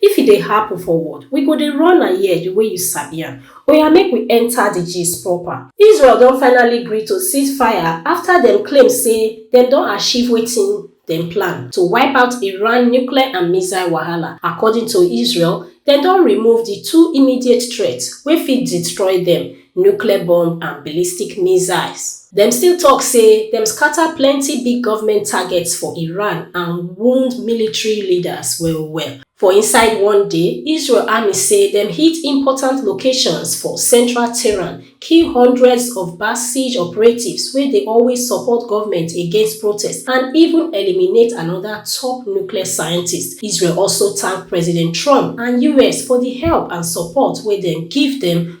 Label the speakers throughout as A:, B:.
A: If e dey happen for world, we go dey run am here the way you sabi am. Oya make we enter the gist proper. Israel don finally gree to ceasefire after dem claim say dem don achieve wetin dem plan to wipe out Iran nuclear and missile wahala. According to Israel, dem don remove the two immediate threats wey fit destroy dem, nuclear bomb and ballistic missiles. Dem still tok say dem scata plenty big govment targets for Iran and wound military leaders well-well. For inside one day, Israel army say dem hit important locations for central Tehran, kill hundreds of Basij operatives wey dey always support govment against protests, and even eliminate anoda top nuclear scientist. Israel also tank President Trump and us for di help and support wey dem give dem.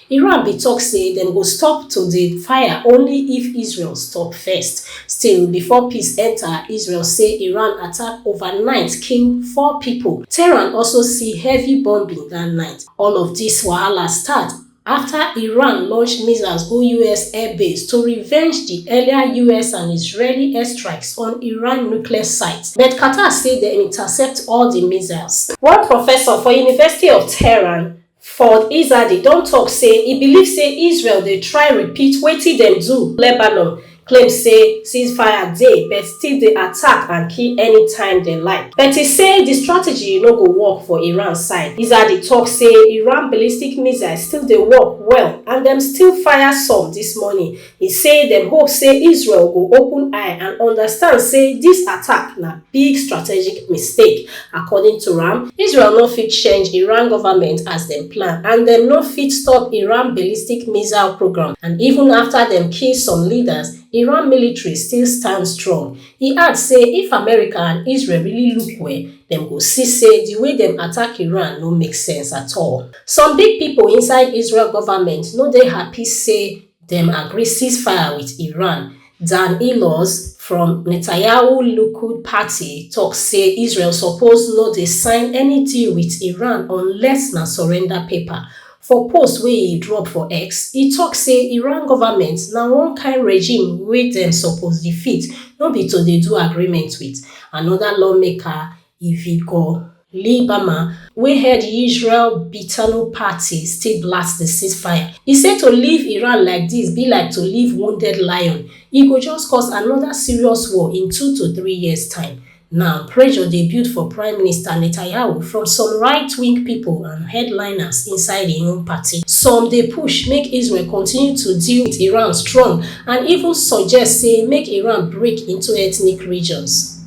A: Iran bin tok say dem go stop to dey fire only if Israel stop first. Still, before peace enta, Israel say Iran attack overnight kill four pipo. Tehran also see heavy bombing dat night. All of dis wahala start afta Iran launch missiles go us air base to revenge di earlier us and Israeli airstrikes on Iran nuclear sites, but Qatar say dem intercept all di missiles. One professor for University of Tehran, Ford Izadi don tok say e believe say Israel dey try repeat wetin dem do Lebanon, claim say ceasefire dey but still dey attack and kill anytime dem like. But e say di strategy no go work for Iran side. Izadi tok say Iran ballistic missiles still dey work well and dem still fire some dis morning. E say dem hope say Israel go open eye and understand say dis attack na big strategic mistake. According to am, Israel no fit change Iran government as dem plan and dem no fit stop Iran ballistic missile programme and even afta dem kill some leaders, Iran military still stand strong. E add say if America and Israel really look well, dem go see say di way dem attack Iran no make sense at all. Some big pipo inside Israel government no dey happy say, dem agree ceasefire wit iran dan ellaz from netanyahu likud party tok say israel suppose no dey sign any deal wit iran unless na surrender paper for post wey e drop for x e tok say iran goment na one kain regime wey dem suppose defeat no be to dey do agreement wit anoda lawmaker Ivigo. Libama wey head Israel Beiteinu party still blast di ceasefire. E say to leave Iran like dis be like to leave wounded lion, e go just cause anoda serious war in two to three years time. Now, pressure dey build for Prime Minister Netanyahu from some right-wing pipo and headliners inside im own party. Some dey push make Israel continue to deal wit Iran strong and even suggest say make Iran break into ethnic regions.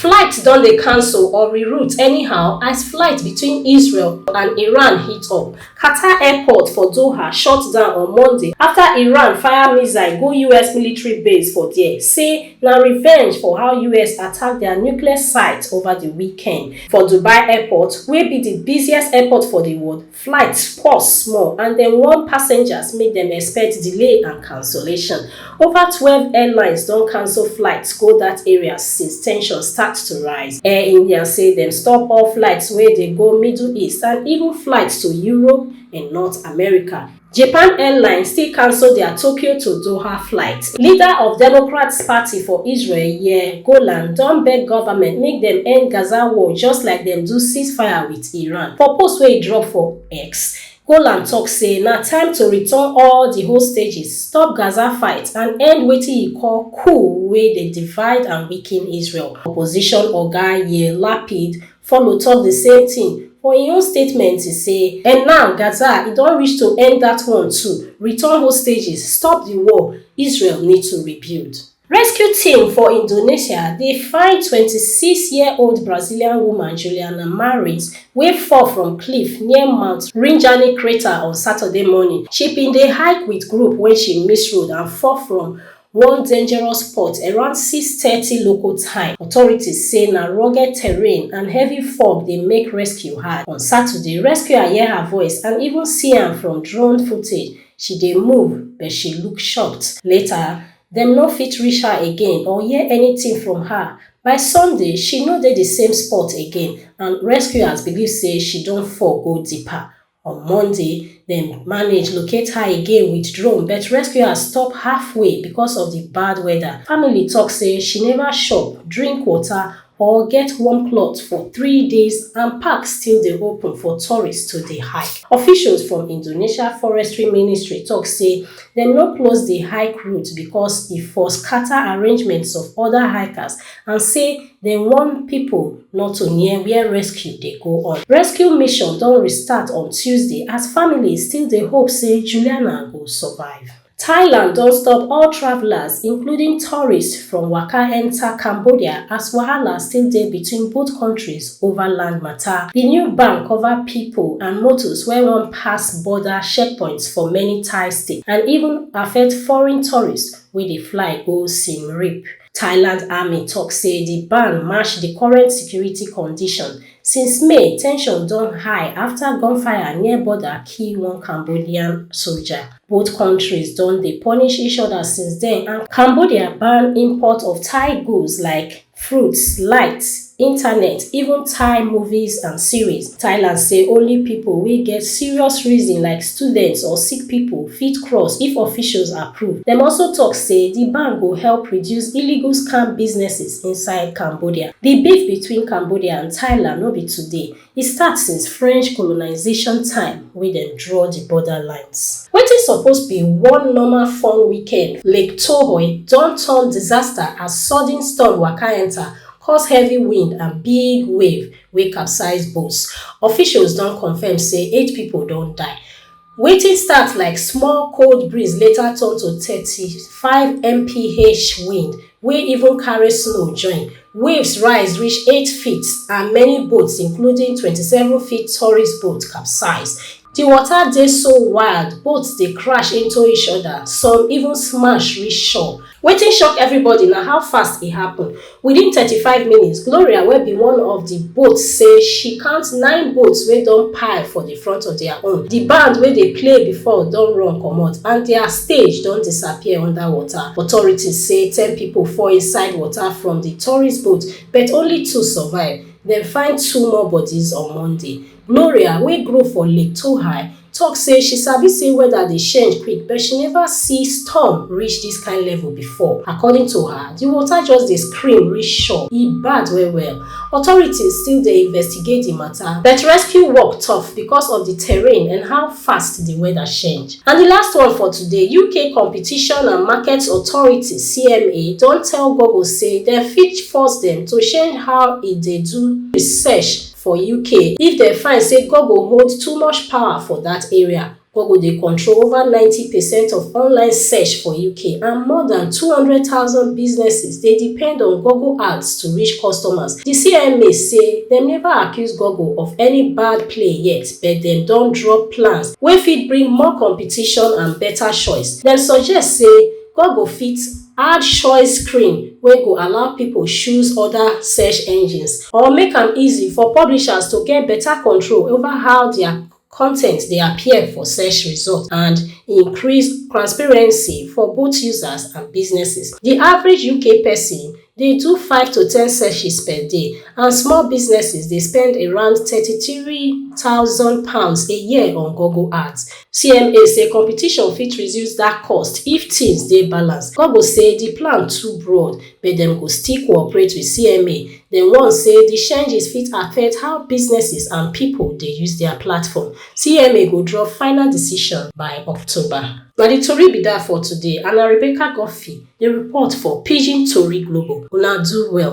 A: Flights don dey cancel or reroute anyhow as flight between Israel and Iran heat up. Qatar airport for Doha shut down on Monday after Iran fire missile go US military base for there, say na revenge for how US attack their nuclear site over di weekend. For Dubai airport, wey be di busiest airport for di world, Flight pause small and dem warn passengers make dem expect delay and cancellation. Over twelve airlines don cancel flights go dat area since tensions start to rise. Air India say dem stop all flights wey dey go Middle East and even flights to Europe and North America. Japan Airlines still cancel dia Tokyo to Doha flight. Leader of Democrats Party for Israel, Yair Golan, don beg government make dem end Gaza war just like dem do ceasefire with Iran. For post wey e drop for X, Golan tok say na time to return all di hostages, stop Gaza fight and end wetin e call coup wey dey divide and weaken Israel. Opposition oga Yair Lapid Follow tok di same tin for im own statement, e say, And now, Gaza, e don reach to end dat one too, return hostages, stop di war, Israel need to rebuild. Rescue team for Indonesia dey find twenty six year old Brazilian woman Juliana Marins wey fall from cliff near Mount Rinjani crater on Saturday morning. She bin dey hike wit group wen she miss road and fall from One dangerous spot around six thirty local time, authorities say na rugged terrain and heavy fog dey make rescue hard. On Saturday, rescuer hear her voice and even see am from drone footage, she dey move but she look shocked. Later, dem no fit reach her again or hear anything from her. By Sunday, she no dey di same spot again and rescuers believe say she don fall go deeper. On Monday, dem manage locate her again with drone but rescuers stop halfway because of di bad weather. Family tok say she neva chop, drink water or get warm cloth for three days and park still dey open for tourists to dey hike. Officials from Indonesia Forestry Ministry tok say dem no close di hike route because e for scata arrangements of oda hikers and say Dem warn pipo not to near wia rescue dey go on. Rescue mission don restart on Tuesday as families still dey hope say Juliana go survive. Thailand don stop all travellers, including tourists, from waka enta Cambodia as wahala still dey between both kontris ova land mata. Di new ban cover pipo and motos wey wan pass border checkpoints for many Thai states and even affect foreign tourists wey dey fly go Siem Reap. Thailand army tok say di ban match di current security condition. Since May, tension don high afta gunfire near border kill one Cambodian soldier. Both kontris don dey punish each oda since den and Cambodia ban import of Thai goods like fruits, light, internet, even Thai movies and series. Thailand say only pipo wey get serious reason like students or sick pipo fit cross if officials approve. Dem also tok say di ban go help reduce illegal scam businesses inside Cambodia. Di beef between Cambodia and Thailand no be today, E start since French colonization time wey dem draw di border lines. Wetin suppose be one normal fun weekend, Lake Tohoe don turn disaster as sudden storm waka enter, cause heavy wind and big wave wey capsize boats. Officials don confirm say eight pipo don die. Wetin start like small cold breeze later turn to thirty five mph wind wey even carry snow join. Waves rise reach eight feet and many boats including twenty seven feet tourist boat capsize. Di water dey so wild, boats dey crash into each other, some even smash reach shore. Wetin shock everybody na how fast e happen. Within thirty five minutes, Gloria wey be one of di boats say she count nine boats wey don pile for di front of dia own. Di band wey dey play before don run comot and dia stage don disappear under water. Authorities say ten pipo fall inside water from di tourist boat but only two survive. Dem find two more bodies on Monday. Gloria wey grow for Lake Tohai talk say she sabi say weather dey change quick but she never see storm reach this kind level before. According to her, the water just dey scream reach shore, e bad well well. Authorities still dey investigate the matter but rescue work tough because of the terrain and how fast the weather change. And the last one for today, UK Competition and Markets Authority, CMA, don tell Google say dem fit force dem to change how e dey do research. For UK, if dem find say Google hold too much power for dat area, Google dey control over ninety percent of online search for UK and more dan two hundred thousand businesses dey depend on Google Ads to reach customers. Di CMA say dem neva accuse Google of any bad play yet but dem don drop plans wey fit bring more competition and beta choice. Dem suggest say Google fit. Add choice screen wey go allow people choose other search engines or make am easy for publishers to get better control over how their content dey appear for search result and increase transparency for both users and businesses. The average UK person dey do five to ten searches per day and small businesses dey spend around thirty three thousand pounds a year on Google Ads. CMA say competition fit reduce dat cost if tins dey balanced. Gogo say di plan too broad, but dem go still cooperate wit CMA. Dem warn say di changes fit affect how businesses and pipo dey use dia platform. CMA go drop final decision by October. Na di tori be dat for today and na Rebecca Guffey dey report for Pidgin Tori Global. Una do well.